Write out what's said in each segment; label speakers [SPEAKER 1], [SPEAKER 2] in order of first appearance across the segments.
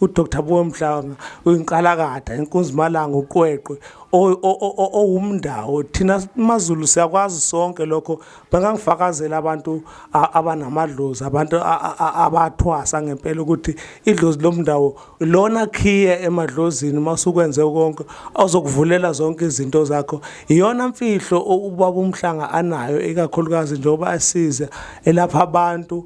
[SPEAKER 1] uDr Buwe Mhlanga uyinqalakada inkunzimalanga uqweqwe owumndawo thina maZulu siyakwazi sonke lokho bangangifakazela abantu abanamadlozi abantu abathwasa ngempela ukuthi idlozi lomndawo lona khiye emadlozini masukwenze konke ozokuvulela zonke izinto zakho iyona mfihlo ubaba umhlanga anayo ikakhulukazi njengoba asiza elapha abantu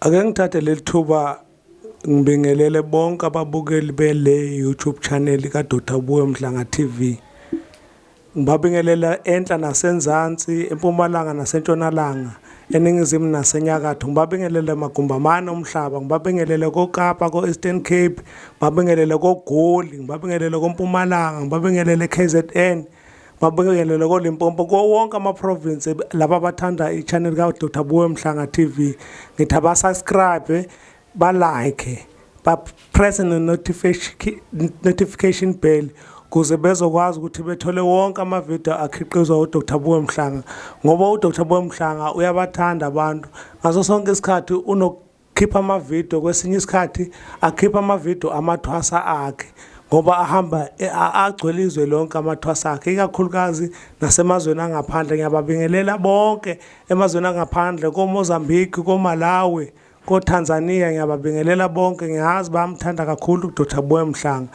[SPEAKER 1] Ake ngithathe leli thuba ngibingelele bonke ababukeli bele YouTube channel ka Dr Buwe Mhlanga TV. Ngibabingelela enhla nasenzansi, empumalanga nasentshonalanga, eningizimu nasenyakatho. Ngibabingelele magumbamane omhlaba, ngibabingelele koKapa, ko-Eastern Cape, ngibabingelele koGoli, ngibabingelele koMpumalanga, ngibabingelele KZN. mabingelele kolimpopo kuwo wonke amaprovince laba abathanda i-channel kadr buwe mhlanga tv ngithi abasubscribe balike bapresse ne-notification bell kuze bezokwazi ukuthi bethole wonke amavidiyo akhiqizwa udr buwe mhlanga ngoba udr buwe mhlanga uyabathanda abantu ngaso sonke isikhathi khipha amavidiyo kwesinye isikhathi akhipha amavidiyo amathwasa akhe ngoba ahamba e, agcwele izwe lonke amathwasa akhe ikakhulukazi nasemazweni angaphandle ngiyababingelela bonke emazweni angaphandle komozambique komalawi kotanzania ngiyababingelela bonke ngiyazi bayamthanda kakhulu udr boy mhlanga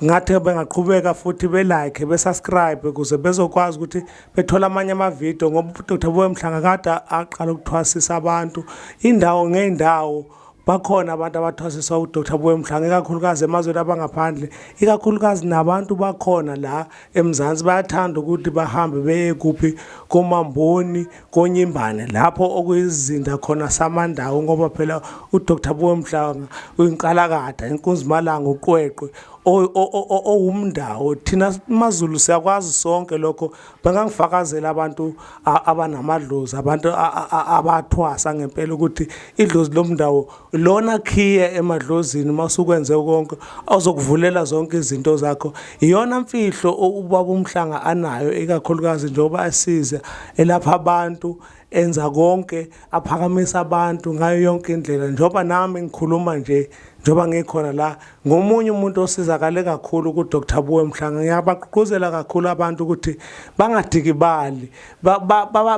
[SPEAKER 1] ngathi bengaqhubeka futhi belike besubscribe ukuze bezokwazi ukuthi bethola amanye amavidiyo ngoba uDr Boy Mhlanga kade aqala ukuthwasisa abantu indawo ngey'ndawo bakhona abantu abathwasiswa uDr Boy Mhlanga ikakhulukazi emazweni abangaphandle ikakhulukazi nabantu bakhona la eMzansi bayathanda ukuthi bahambe beye kuphi komamboni konyimbane lapho okuyizinda khona samandawo ngoba phela uDr Boy Mhlanga uyinqalakada inkunzimalanga uqweqwe owumndawo thina maZulu siyakwazi sonke lokho bengangifakazela abantu abanamadlozi abantu abathwasa ngempela ukuthi idlozi lomndawo lona khiye emadlozini masukwenze konke awuzokuvulela zonke izinto zakho iyona mfihlo ubaba umhlanga anayo ikakhulukazi njengoba asiza elapha abantu enza konke aphakamisa abantu ngayo yonke indlela njengoba nami ngikhuluma nje njengoba ngikhona la ngomunye umuntu osizakale kakhulu kuDr Buwe Mhlanga ngiyabagqugquzela kakhulu abantu ukuthi bangadikibali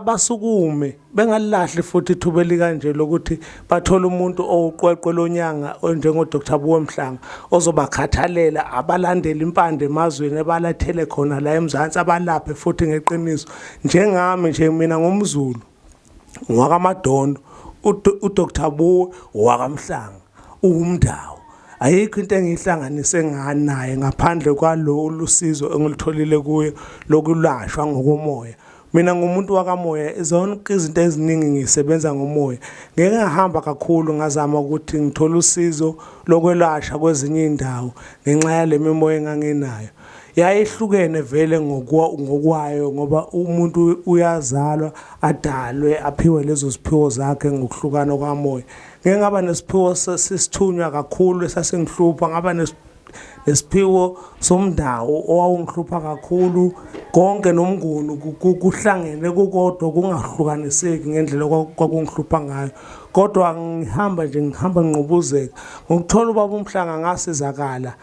[SPEAKER 1] basukume bengalilahle futhi ithuba elikanje lokuthi bathole umuntu owuqweqwe lonyanga onjengoDr Buwe Mhlanga ozobakhathalela abalandele impande emazweni ebalathele khona la eMzansi abalaphe futhi ngeqiniso njengami nje mina ngumZulu ngwakamadondo udr buwe wakamhlanga uwumndawo ayikho into engiyihlanganise nganaye ngaphandle kwalolu sizo engilitholile kuye lokulashwa ngokomoya mina ngumuntu wakamoya zonke izinto eziningi ngisebenza ngomoya ngeke ngahamba kakhulu ngazama ukuthi ngithole usizo lokwelashwa kwezinye iy'ndawo ngenxa yale mimoya enganginayo yayehlukene vele ngokwayo ngoba umuntu uyazalwa adalwe aphiwe lezo ziphiwo zakhe ngokuhlukana kwamoya ngeke ngaba nesiphiwo sesithunywa kakhulu esasingihlupha ngaba nesiphiwo somndawo owawungihlupha kakhulu konke nomnguni kuhlangene kukodwa kungahlukaniseki ngendlela kwakungihlupha ngayo kodwa ngihamba nje ngihamba nginqubuzeka ngokuthola ubaba umhlanga ngasizakala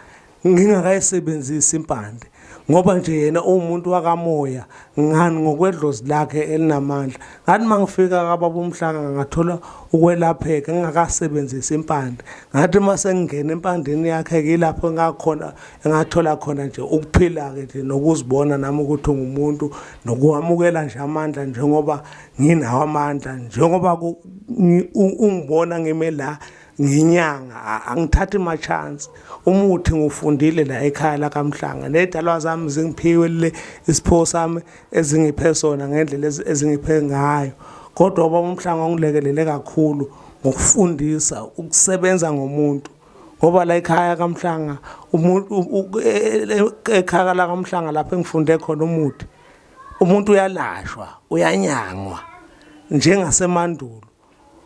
[SPEAKER 1] ngingakayisebenzisi impande ngoba nje yena uwumuntu wakamoya ngani ngokwedlozi lakhe elinamandla ngathi uma ngifika kababa umhlanga ngathola ukwelapheka ngingakasebenzisi impande ngathi uma sengingena empandeni yakhe kilapho ngakhona engathola khona nje ukuphila-ke nje nokuzibona nami ukuthi ungumuntu nokuwamukela nje amandla njengoba nginawo amandla njengoba ungibona ngime la nginyanga angithathi ma chance umuthi ngufundile la ekhaya la kamhlanga nedalwa zami zingiphiwe le isipho sami ezingiphe sona ngendlela ezingiphe ngayo kodwa ubaba umhlanga ungilekelele kakhulu ngokufundisa ukusebenza ngomuntu ngoba la ekhaya kamhlanga umuntu e, e, e, ekhaya la kamhlanga lapho engifunde khona umuthi umuntu uyalashwa uyanyangwa njengasemandulo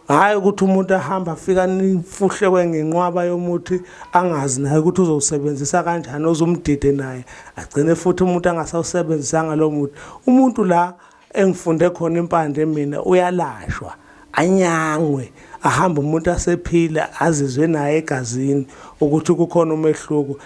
[SPEAKER 1] hhayi ukuthi umuntu ahamba afika nifuhlekwe ngenqwaba yomuthi angazi naye ukuthi uzowusebenzisa kanjani ozumdide naye agcine futhi umuntu angasawusebenzisanga lowo muthi umuntu la engifunde khona impande mina uyalashwa anyangwe ahambe umuntu asephila azizwe naye egazini ukuthi kukhona umehluko